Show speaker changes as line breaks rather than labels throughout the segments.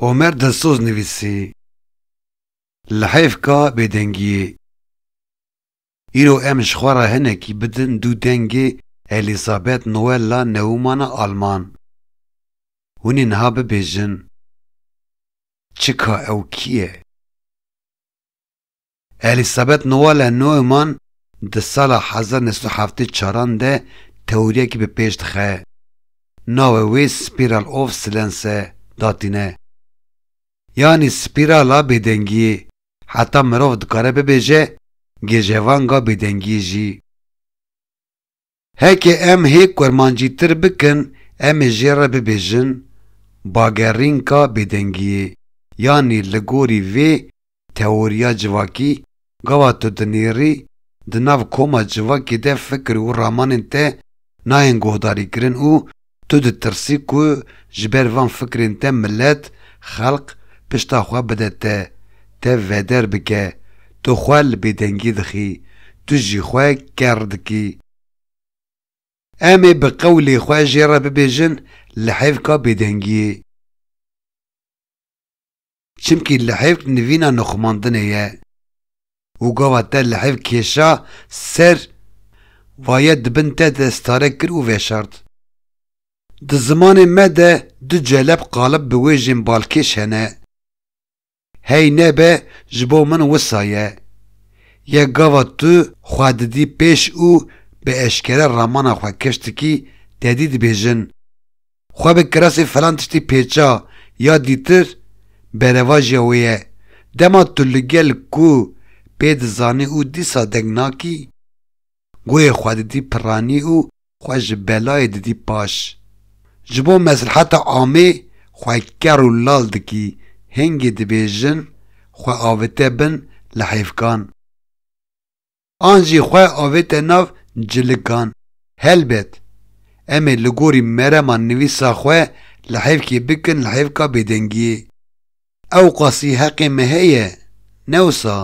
Omer Dilsoz nivîsî, Li heyfka bêdengiyê, îro em ji xwe re hinekî bidin dû dengê Elîzabeth Noella Neumana Alman. Hûn ê niha bibêjin, Çika ew kî ye? Elîsabet Noelle Neumann di sala hezar neh sed û heftê çaran de teoriyekî bi pêş dixe. Navê wê Spiral of Silence e, datîne. Yanî spîrala bêdengiyê, heta mirov dikare bibêje gêjevanga bêdengiyê jî. Heke em hê kurmancîtir bikin em ê jê re bibêjin bagerrînka bêdengiyê yanî li gorî vê teoriya civakî gava tu dinêrî di nav koma civakê de fikir û ramanên te nayên guhdarîkirin û Tu ditirsî ku ji ber van fikrên te milet, xelq, pişta xwe bide te, te veder bike. Tu xwe li bêdengî dixî. Tu jî xwe ker dikî. Em ê bi qewlê xwe jê re bibêjin, Li hêvka bêdengiyê. Çimkî li hêvk nivîna nixumandinê ye û gava te li hêv kêşa ser vaye di bin te de stare kir û veşart. Di zimanê me de du celeb qalib bi wêjên balkêş hene. Hey nebe ji bo min wisa ye. Yek gava tu xwe didî pêş û bi eşkere ramana xwe keştikî tedî dibêjin. Xwe bi kiresê filan tiştî pêça ya dîtir berevajiya wê ye. Dema tu li gel ku pê dizanî û dîsa deng nakî, goyê xwe didî piranî û xwe ji belayê didî paş. Ji bo mesleheta amê xwe ker û lal dikî, hingê dibêjin xwe avite bin li hêvkan. an jî xwe avête nav cilikan. Helbet, em ê li gorî merema nivîsa xwe li hevkê bikin li hevka bêdengiyê. Ewqasî heqê me heye, ne wisa?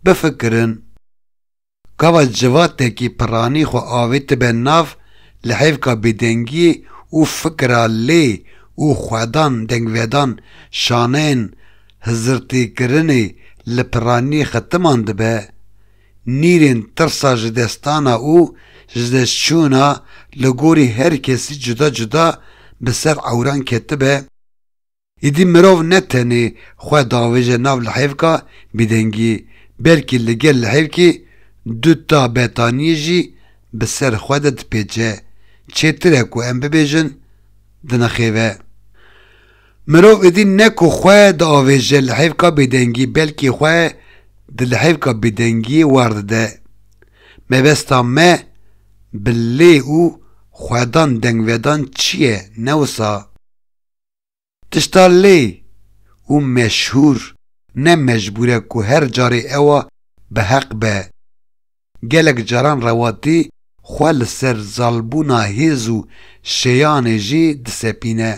Bifikirin. Gava civatekî piranî xwe avêtibe nav li hevka bêdengiyê û fikira lê û xwedan dengvedan şaneyên hizirtîkirinê li piranî xetiman dibe, nîrên tirsa ji destana û ji destçûna li gorî her kesî cuda cuda bi ser ewran ketibe, îdî mirov ne tenê xwe davêje nav lihevka bêdengiyê, belkî li gel lihevkê du ta betaniyê jî bi ser xwe de dipêçe, çêtir e ku em bibêjin dinixêve. Mirov êdî ne ku xwe diavêje li hêvka bêdengî belkî xwe di li hêvka bêdengiyê war dide. Mebesta me bi lê û xwedan dengvedan çi ye ne wisa? Tişta lê û meşhûr ne mecbûr e ku her carê ewa bi heq be. Gelek caran rewatî xwe li ser zalbûna hêz û şêyanê jî disepîne.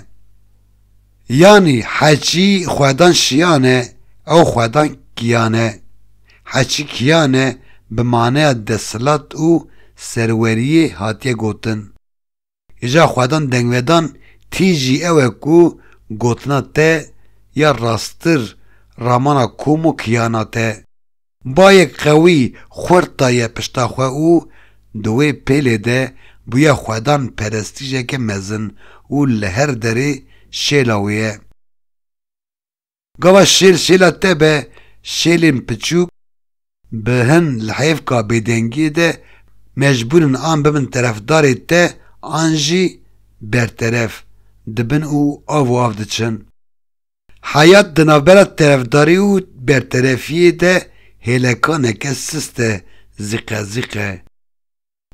Yanî heçî xwedan şiyan e, ew xwedan kiyan e. Heçî kiyan e bi maneya desthilat û serweriyê hatiye gotin. Hêja xwedan dengvedan tî jî ew e ku gotina te ya rasttir ramana kom û kiyana te. Bayek qewî xurt daye pişta xwe û di wê pêlê de bûye xwedan perestîjeke mezin û li her derê şêla wê ye. Gava şêl şêla te be, şêlên piçûk bi hin li hêvka bêdengiyê de mecbûr in an bibin terefdarê te an jî berteref dibin û av û av diçin. Heyat di navbera terefdarî û berterefiyê de hêlekaneke sist e, zîqe zîqe.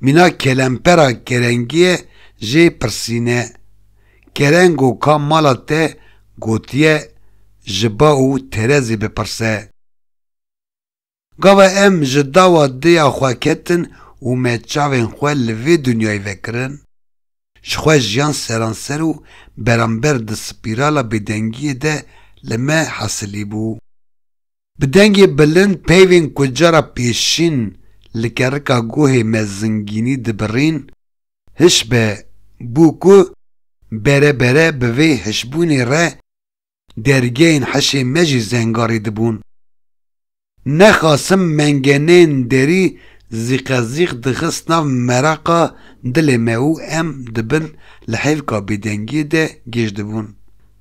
Mîna kelempera kerengiyê jê pirsîne. Kerengo ka mala te gotiye ji ba û terezê bipirse. Gava em ji dawa dêya xwe ketin û me çavên xwe li vê dinyayê vekirin. Ji xwe jiyan seranser û beramber di spîrala bêdengiyê de li me hesilîbû. Bi dengê bilind peyvên ku cara pêşîn li kerika guhê me zingînî dibirîn hişbe bû ku bere bere bi vê hişbûnê re dergehên hişê me jî zengarî dibûn. Ne xasim mengeneyên derî zîqezîq dixist nav meraqa dilê me û em di bin li hêvka bêdengiyê de gêj dibûn.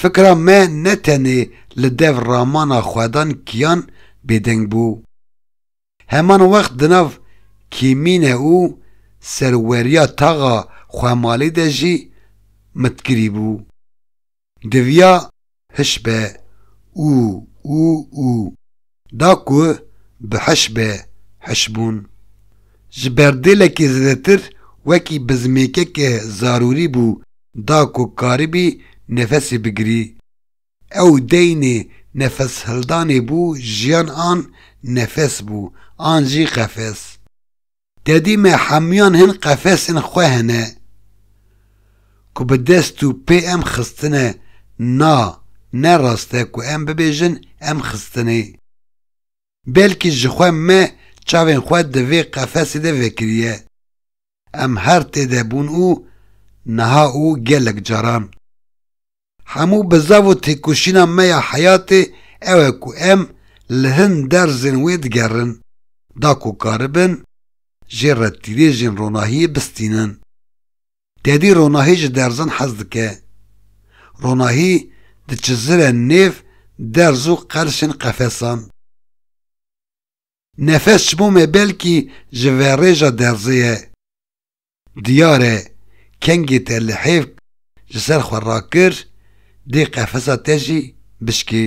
Fikra me ne tenê li dev ramana xwedan kiyan bêdeng bû. Heman wext di nav kêmîne û serweriya taxa xwemalî de jî mitkirî bû. Diviya hişbe û û û. Da ku bi hiş be hiş bûn. Ji berdêlekê zêdetir wekî bizmêkeke zarûrî bû da ku karibî nefesê bigirî. Ew deynê nefeshildanê bû jiyan an nefes bû an jî qefes. Tedî me hemûyan hin qefesên xwe hene ku bi dest û pê em xistine, na, ne rast e ku em bibêjin em xistinê. Belkî jixwe me çavên xwe di vê qefesê de vekiriye. Em her tê de bûn û niha û gelek caran. Hemû bi zav û têkoşîna me ya heyatê ew e ku em li hin derzên wê digerin, da ku karibin jê re tîrêjên ronahiyê bistînin. Tedî ronahî ji derzan hez dike. Ronahî diçizire nêv derz û qerşên qefesan. Nefes ji bo me belkî ji verêja derzê ye. Diyar e kengê te li hêvk ji ser xwe rakir, dê qefesa te jî bişkî.